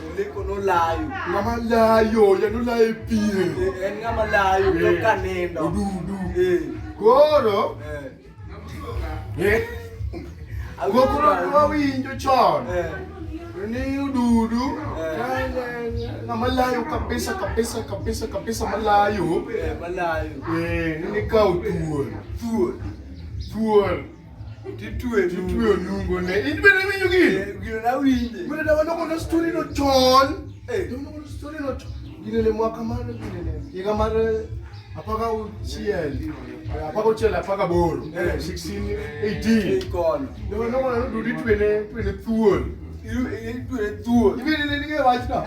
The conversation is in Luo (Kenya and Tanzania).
Oleko nolayo. Ng'ama layo, janolayo e pien. Eh, En ng'ama layo to Eh. ka nindo. Odudu. Eh, Koro, eh. eh, Awinjo koko ma- nwa- wawinjo chon. Eh, Ni ududu, Eh. kanya- ng'ama layo kabisa, kabisa, kabisa, kabisa malayo. eh, malayo. Eh, ni ka utuon. Thuol. Thuon. titwe titwe onungo ne in bende winjo gino eh, gino na winje mene da wano kono story no chon eh wano kono story no chon gino ne mwaka mar gino ne higa mar apaka uchiel apaka uchiel apaka boro 16 18 kono da wano kono dudi twene twene thuol itwene thuol ibende ne nige wachno